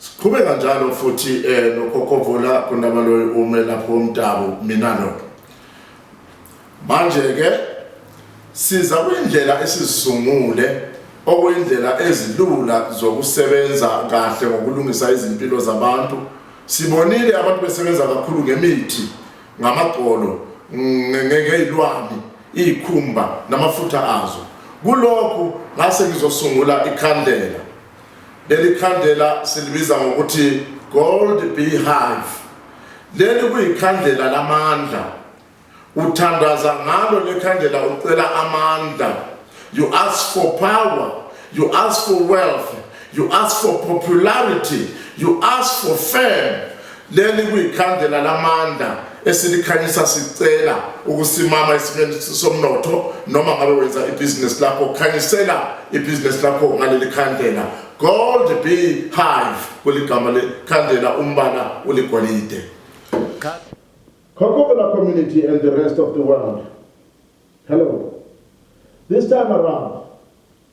Siqhubeka njalo futhi eh nokhokhovula kundaba loyo ume lapho umdabu mina lo. Manje ke siza kwindlela esizisungule okuyindlela ezilula zokusebenza kahle ngokulungisa izimpilo zabantu. Sibonile abantu besebenza kakhulu ngemithi, ngamagqolo, ngezilwane, izikhumba namafutha azo. Kulokhu ngase ngizosungula ikhandlela. Leli khandlela silibiza ngokuthi Gold Beehive. Leli kuyikhandlela lamandla. Uthandaza ngalo lekhandlela ucela amandla. You ask for power, you ask for wealth, you ask for popularity, you ask for fame. Leli kuyikhandlela lamandla esilikhanyisa sicela ukusimama esimeni somnotho noma ngabe wenza ibhizinisi lakho khanyisela ibhizinisi lakho ngaleli khandlela gold be hive kuligama lekhandlela umbala uligolide Kokobela community and the rest of the world hello this time around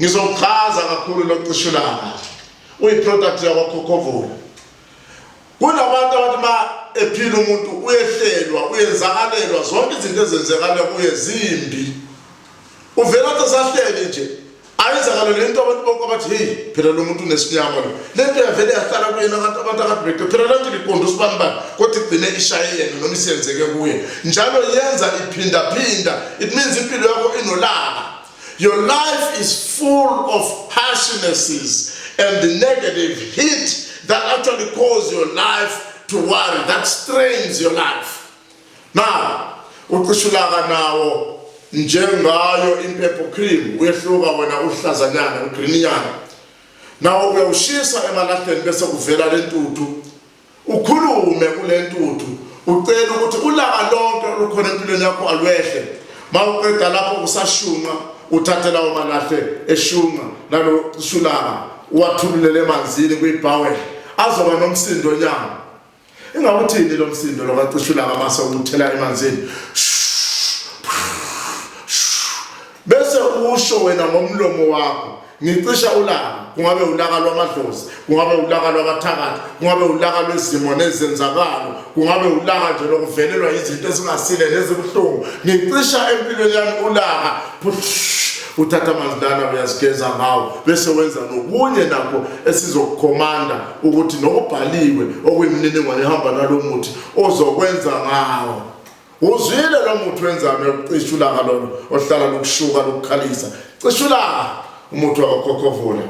Ngizokuchaza kakhulu loqishulanga. Uyiproduct yakwaKhokhovula. Kunabantu abathi ma ephila umuntu uyehlelwa, uyenzakalelwa zonke izinto ezenzekala kuye zimbi. Uvela athi sahlele nje. Ayizakalo lento abantu bonke abathi hey phela lo muntu unesinyama lo. Lento yavele yahlala kuyena kanti abantu akadibeke. Phela lento liqonda usibani bani kodwa igcine ishaye yena noma isenzeke kuye. Njalo yenza iphinda phinda. It means impilo yakho inolaka. Your life is full of harshnesses and the negative heat that actually cause your life to worry, that strains your life. Now, uqishulaka nawo njengayo impepho cream uyehluka wena uhlazanyana ugrininyana nawo uyawushisa emalahleni bese kuvela lentuthu Ukhulume kule ntuthu ucele ukuthi ulaka lonke olukhona empilweni yakho alwehle mawuqeda lapho kusashunqa uthathe lawo malahle eshunqa nalo shulaka uwathululele emanzini kwibhawel azoba nomsindo nyama ingabe uthini lo msindo lo kacishulaka mase uthela emanzini bese usho wena ngomlomo wakho ngicisha ulaka kungabe ulaka lwamadlozi kungabe ulaka lwabathakathi kungabe ulaka lwezimo nezenzakalo kungabe ulaka nje lokuvelelwa izinto ezingasile nezibuhlungu ngicisha empilweni yami ulaka uthatha amanzi lana uyazigeza ngawo bese wenza nokunye nakho esizokukhomanda ukuthi nokubhaliwe okuyimininingwane ehamba nalo muthi ozokwenza ngawo Uzwile lo muthi wenzani yokucisha ulaka lona ohlala lukushuka lukukhalisa. Cisha ulaka umuthi wakokhokhovula.